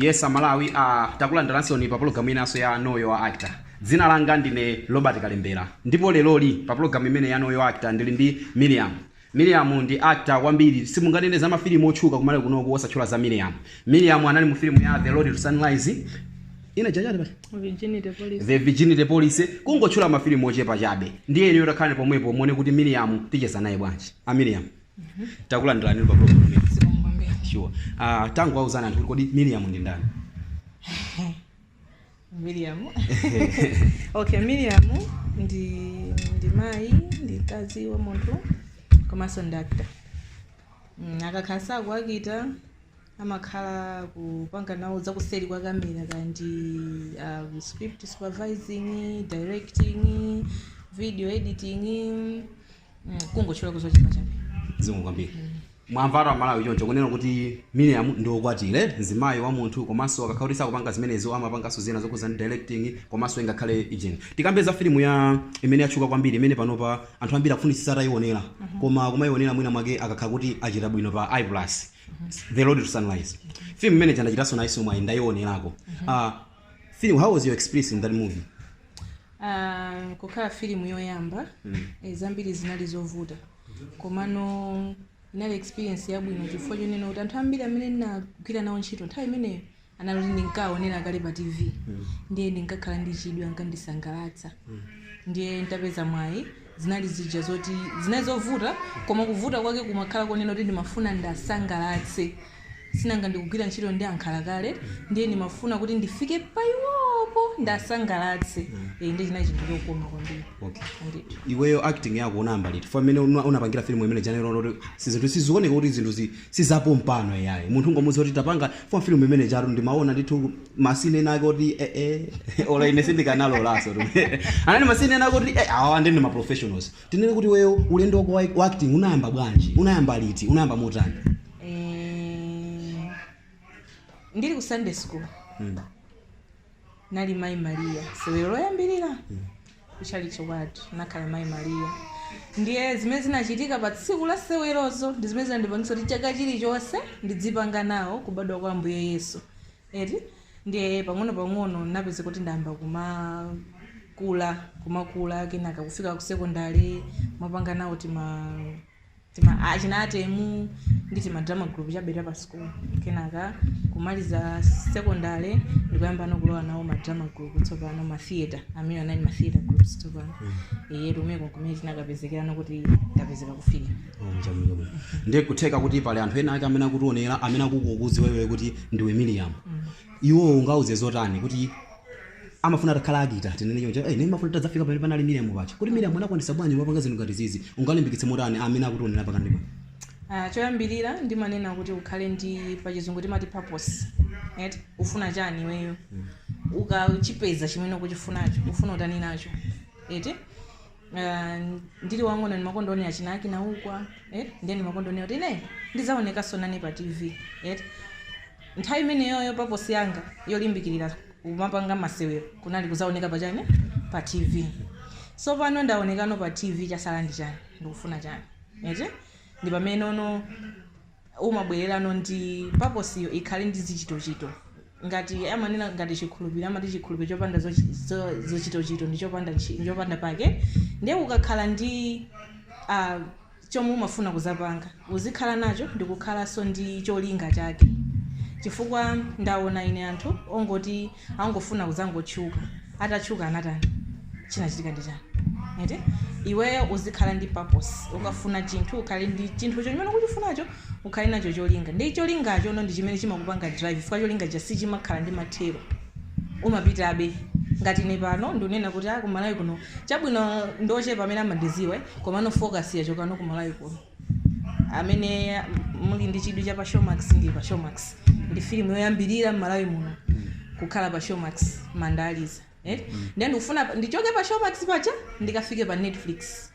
Yes amalawi uh, takulandiransoni pa pologalamu inanso ya know your actor dzina langa ndine robert kalembera ndipo leroli pa pologalamu imene ya know your actor ndili ndi miriam miriam ndi actor kwambiri simunganene za mafilimu otchuka ku Malawi kunoku osatchula za miriam miriam anali mu filimu ya the road to sunrise ina jajati pati Virginity police. the virginity police kungotchula mafilimu ochepa chabe ndiye inuyo takhalani pomwepo muone kuti miriam ticheza naye bwanji a miriam takulandirani pa program imeneyi. zikomo kwambiri sure uh, tangowauzani anthu kuti kodi miriam ndi ndani miriam okay miriam ndi ndi mayi ndi mkazi wa munthu komanso ndi actor mm, akakhala sakuakita amakhala kupanga nawo zakuseri kwa kamera ngati uh, script supervising directing video editing Mm, kungotchulako zochepa chabe zikomo kwambiri mwamvatu amalawi choncho kunena kuti miriam ndi wokwatira mzimayi wa munthu komanso akakhala kuti sakupanga zimenezo amapanganso zina zokhudza ndi directing komanso ingakhale ijeni tikambe za filimu ija imene yatchuka kwambiri imene panopa anthu ambiri akufunitsitsa atayionera koma kumayionera mwina mwake akakhala kuti achita bwino pa iplus the road to sunrise filimu imene ija ndachitanso nayiso mwayi ndayionerako Ah, Film, how was your experience in that movie? Uh, kukhala filimu yoyamba mm. e, zambiri zinali zovuta komano inali experience yabwino chifukwa chonena kuti anthu ambiri amene ndinagwira nawo ntchito nthawi imeneyo anali kuti ndinkaonera kale pa tv mm. ndiye ndinkakhala ndi chidwi ankandisangalatsa mm. ndiye ntapeza mwayi Zinali zija zoti zinali zovuta koma kuvuta kwake kumakhala konena kuti ndimafuna ndiwasangalatse sinanga ndikugwira ntchito ndi ankhalakale ndiye ndimafuna kuti ndifike pa iwopo ndiwasangalatse eh, ndiye chinali chinthu chokoma kwambiri Okay. Ndithu. iweyo acting yako unayamba liti fa mmene una- unapangira filimu imene ija eti sizinthu sizioneka kuti zinthu zi- sizapompano iyayi munthu ungomuza kuti tapanga film imene ijatu ndimaona ndithu masine ena ake oti eh, eh, ola ine sindikanalolaso anani masine ena ake oti eh, awa nde ndi ma professionals tinene kuti iweyo ulendo wako wa- wa acting unayamba bwanji unayamba liti unayamba motani Eh, ndili ku sunday school nali mayi mariya sewero loyambirira kuchalichi kwathu nakhala mayi mariya ndiye zimene zinachitika pa tsiku la sewerozo ndi zimene zinandipangisa kuti chaka chilichonse ndidzipanga nawo kubadwa kwa ambuye yesu eti ndiye pang'ono pang'ono napezeka kuti ndayamba kumakula kumakula kenaka kufika ku sekondari mapanga nawo tima tima achinatemu ndi tima drama group chabe ta pa school kenaka kumaliza secondary ndikuyambano kulowa nawo ma drama group tsopano ma theater amene anali ma theater groups tsopano ndiye kumeneko kumene tinakapezekerano kuti ndapezeka kufika Oh, chabwino chabwino ndiye kutheka kuti pali anthu ena ake amene akutionera amene akukudziwa iweyo kuti ndiwe Miriam iwo ungauze zotani kuti amafuna atakhala akita tinene choncho eh ndimafuna nditadzafika pamene panali Miriam paja kuti Miriam anakwanisa bwanji wapanga zinthu ngati zizi ungalimbikitse motani amene akutionera pakanthawi pano Ah, choyambirira ndimanena kuti ukhale ndi pachizungu timati purpose right? ufuna chani iweyo ukachipeza chimene ukuchifunacho ufuna utani nacho eti Ah, ndili wang'ono ndimakonda kuonera china Kinaukwa eh? ndiye ndimakonda kunena kuti ine ndidzaonekanso nane pa tv eh? nthawi imeneyoyo purpose yanga yolimbikirira kumapanga masewero kunali kudzaoneka pa chani pa tv so pano ndaonekano pa tv chatsala ndi chani ndikufuna chani eti ndi pameneno umabwererano ndi purpose yo ikhale ndi zichitochito ngati amanena ngati chikhulupiriro amati chikhulupiriro chopanda zochi- zo- zochitochito ndi chopanda ntchi- ndi chopanda pake ndiye ukakhala ndi ah, chomwe umafuna kuzapanga uzikhala nacho ndikukhalanso ndi cholinga chake chifukwa ndaona ine anthu ongoti angofuna kudzangotchuka atatchuka anatani chinachitika ndi chani eti iweyo uzikhala ndi purpose ukafuna chinthu ukhale ndi chinthu chimene ukuchifunacho ukhale nacho cholinga ndi cholingachono ndi chimene chimakupanga drive chifukwa cholingacho sichimakhala ndi mathero umapitabe ngati ine pano ndinena kuti a kumalawi kuno chabwino ndi ochepa amene amandiziwa eh, komano focus yachokano kumalawi kuno amene muli ndi chidwi cha pa showmax ndi pa showmax ndi filimu yoyambirira m'malawi muno kukhala pa showmax Mandaliza eh? ndiye ndikufuna pa- ndichoke pa showmax paja ndikafike pa netflix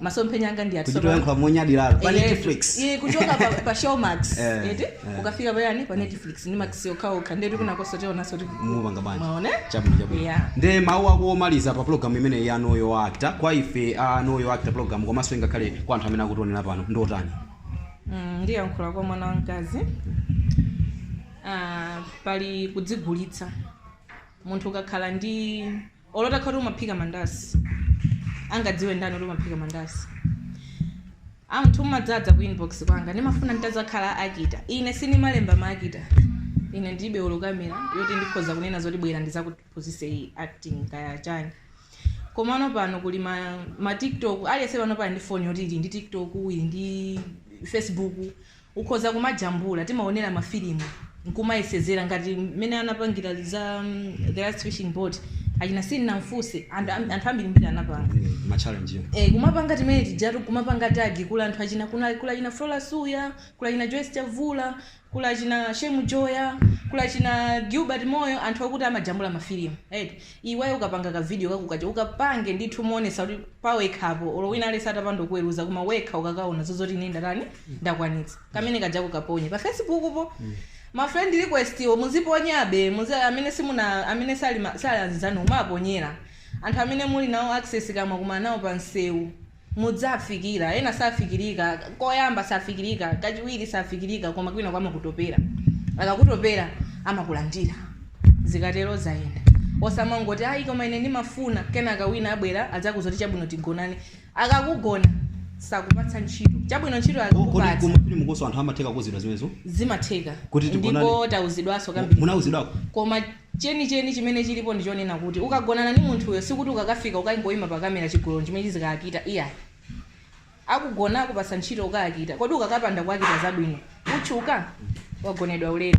masomphenya anga ndi amenewo tsopano kuchita kuyankhula monyadira pa Eh, netflix eh, kuchoka pa, pa showmax Eh. eti ukafika pa ujeni pa netflix ndi max okhaokha ndiye tikuona konko tionanso kuti mupanga bwanji mwaone chabwino chabwino Yeah. nde mawu ako omaliza pa pulogalamu imeneyi ya Know Your Actor kwa ife a Know Your Actor pulogalamu komanso ngakhale kwa anthu amene akutionera pano ndi otani Mm, ndiyankhula kwa mwana wamkazi Ah, pali kudzigulitsa munthu ukakhala ndi Olo utakhala kuti umaphika mandasi angadziwe ndani kuti umaphika mandasi? Anthu amadzadza ku inbox kwanga ndimafuna nditazakhala akita. Ine sindimalemba ma akita. Ine ndilibe olo camera yoti ndikhoza kunena zoti bwera ndizakuphunzitse acting kaya chani. Komano pano kuli ma, ma tiktok aliyense panopa ali ndi phone yoti ili ndi tiktok ili ndi facebook Ukhoza kumajambula, timaonera mafilimu nkumayesezera ngati mmene anapangira za mm, the last fishing boat achina sindinamfunse anthu am- anthu ambirimbiri anapanga Mwina ma challenge yo. Eh, kumapanga timene tijatu kumapanga tag kuli anthu achina kuna kuli achina Flora Suya, kuli achina Joyce Chavula, kuli achina Shemu Joyah, kuli achina Gilbert Moyo, anthu okuti amajambula mafilimu. Right? Iweyo ukapanga ka video kako kaja ukapange ndithu moonetsa kuti pawekhapo olo wina aliyense atapanda kukuweruza koma wekha ukakaona zoti ine ndatani ndakwanitsa kamene kajako kaponye pa facebook po ma friend request wo muziponyabe muzi amene simuna amene sali ma- sali anzanu mumaponyera anthu amene muli nawo access kaya mwakumana nawo pa msewu mudzafikira. Ena safikirika. Koyamba safikirika, kachiwiri safikirika koma kwinako amakutopera. Akakutopera amakulandira. Zikatero zayenda. Osamangoti ayi koma ine ndimafuna, kenaka wina abwera adzakuuza kuti chabwino tigonane. Akakugona sakupatsa ntchito. Chabwino ntchito Oh, kodi ku akakupatsa mafilimukonso anthu amatheka kuuzidwa zimenezo? zimatheka Kuti tigonane? ndipo tauzidwanso Mu- kambirimbiri. munauzidwako? Koma Chenicheni chimene chilipo ndi chonena kuti ukagonana ndi munthuyo sikuti ukakafika ukangoima pa kamera chigololo nchimene chizikaakitayo iyayi. Akugona akupatsa ntchito ukaakita, kodi ukakapanda kuakita zabwino utchuka? Wagonedwa ulere.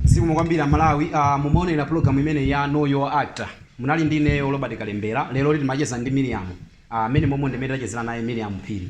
Zikomo kwambiri a Malawi mumaonera program imeneyi ya know your actor munali ndi ineyo Robert Kalembera leroli timacheza ndi Miriam a mmene momo ndimene tachezera naye Miriam Phiri.